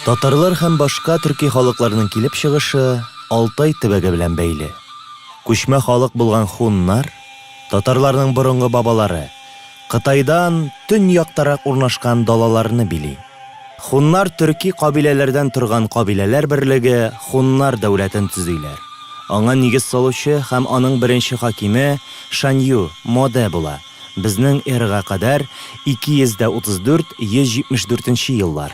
Татарлар һәм башка төрки халыкларның килеп чыгышы Алтай төбәге белән бәйле. Күчмә халык булган хуннар, татарларның борынгы бабалары, Кытайдан төньяктарак урнашкан далаларны били. Хуннар төрки кабиләләрдән торган кабиләләр берлеге Хуннар дәүләтен төзиләр. Аңа нигез салучы һәм аның беренче хакиме Шанью, Моде була, безнең эрага кадәр 234, 174 нче еллар.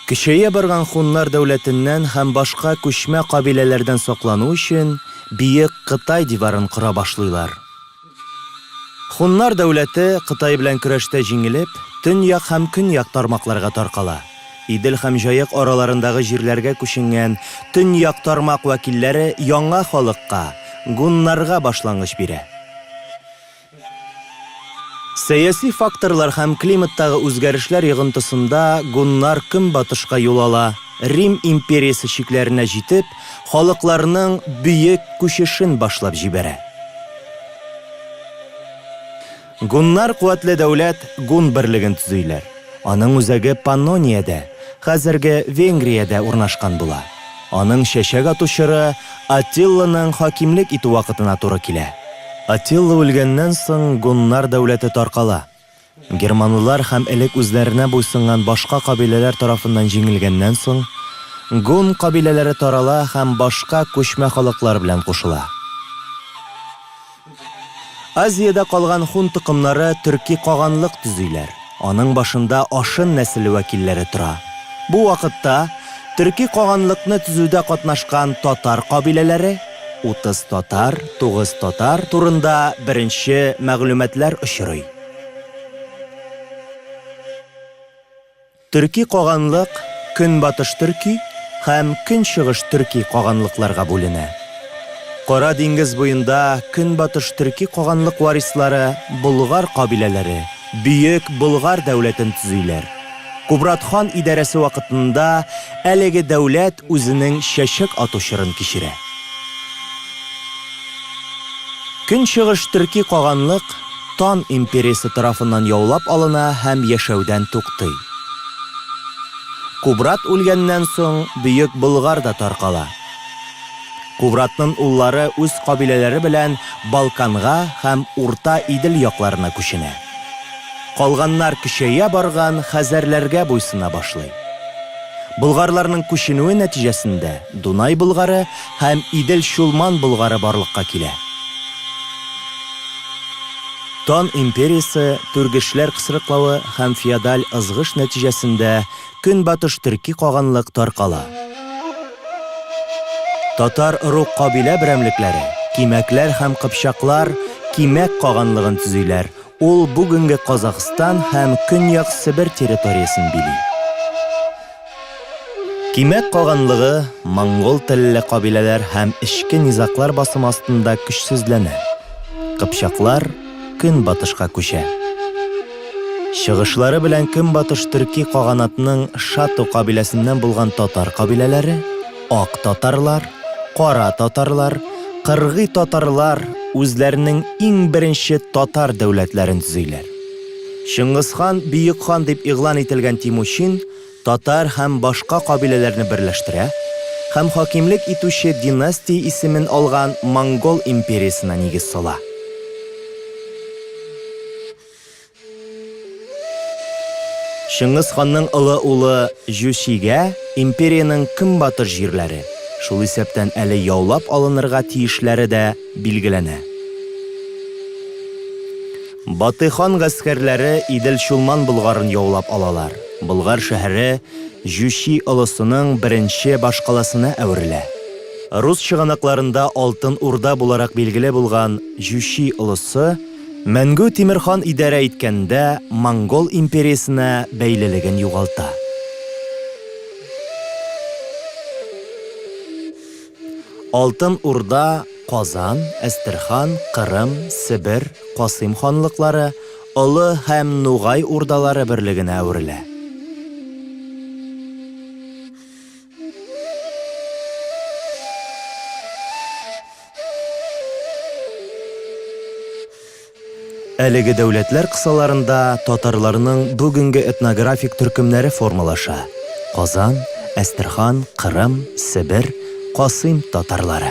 Көчәя барган Хуннар дәүләтеннән һәм башка күчмә кабиләләрдән саклану өчен Биек Кытай диварын кора башлыйлар. Һуннар дәүләте, Кытай белән көрәштә җиңелеп, төньяк һәм көньяк тармакларга таркала. Идел һәм Җаек араларындагы җирләргә күченгән төньяк тармак вәкилләре яңа халыкка, гуннарга башлангыч бирә. Сәяси факторлар һәм климаттагы үзгәрешләр йогынтысында гуннар көнбатышка юл ала, Рим империясе чикләренә җитеп, халыкларның бөек күчешен башлап җибәрә. Гуннар куәтле дәүләт Гун берлеген төзиләр. Аның үзәге Паннониядә, хәзерге Венгриядә урнашкан була. Аның чәчәк ату чоры Атилланың хакимлек итү вакытына туры килә. Атилла үлгәннән соң Гуннар дәүләте таркала. Германлылар һәм элек үзләренә буйсынган башка кабиләләр тарафыннан җиңелгәннән соң, гун кабиләләре тарала һәм башка күчмә халыклар белән кушыла. Азиядә калган хун токымнары төрки каганлык төзиләр, аның башында ашын нәселе вәкилләре тора. Бу вакытта төрки каганлыкны төзүдә катнашкан татар кабиләләре, Утыз татар, тугыз татар турында беренче мәгълүматлар очрый. Төрки каганлык Көнбатыш төрки һәм Көнчыгыш төрки каганлыкларга бүленә. Кара диңгез буенда Көнбатыш төрки каганлык варислары болгар кабиләләре, Бөек Болгар дәүләтен төзиләр. Кубрат хан идарәсе вакытында әлеге дәүләт үзенең чәчәк ату чорын кичерә. Көнчыгыш төрки каганлык Тан империясе тарафыннан яулап алына һәм яшәүдән туктый. Кубрат үлгәннән соң Бөек Болгар да таркала. Кубратнын уллары үз кабиләләре белән Балканга һәм Урта Идел якларына күченә. Калганнар көчәя барган хәзәрләргә буйсына башлый. Болгарларның күченүе нәтиҗәсендә Дунай Болгары һәм Идел-Чулман Болгары барлыкка килә. Тан империясе, Түргешләр кысрыклавы һәм феодаль ызгыш нәтиҗәсендә, Көнбатыш төрки каганлык таркала. Татар рук кабилә берәмлекләре, кимәкләр һәм кыпчаклар, кимәк каганлыгын төзиләр, ул бүгенге Казахстан һәм Көньяк Себер территориясен били. Кимәк каганлыгы монгол телле кабиләләр һәм эчке низаклар басымы астында көчсезләнә. Кыпчаклар, көнбатышка күчә. Чыгышлары белән көнбатыш төрки каганатның Шату кабиләсеннән булган татар кабиләләре, ак татарлар, кара татарлар, кыргый татарлар үзләренең иң беренче татар дәүләтләрен төзиләр. Чыңгыз хан, бөек хан дип игълан ителгән Тимучин, татар һәм башка кабиләләрне берләштерә һәм хакимлек итүче династия исемен алган монгол империясенә нигез сала. Чыңгыз ханның олы улы Җүчигә империянең көнбатыш җирләре, шул исәптән әле яулап алынырга тиешләре дә билгеләнә. Батый хан гаскәрләре Идел-Чулман Болгарын яулап алалар. Болгар шәһәре Җүчи олысының беренче башкаласына әверелә. Рус чыганакларында Алтын Урда буларак билгеле булган Җүчи олысы Мәнгү Тимер хан идарә иткәндә монгол империясенә бәйлелеген югалта. Алтын Урда, Казан, Әстерхан, Кырым, Себер, Касыйм ханлыклары, Олы һәм Нугай Урдалары берлегенә әверелә. Әлеге дәүләтләр кысаларында татарларның бүгенге этнографик төркемнәре формалаша, Казан, Әстерхан, Кырым, Себер, Касыйм татарлары.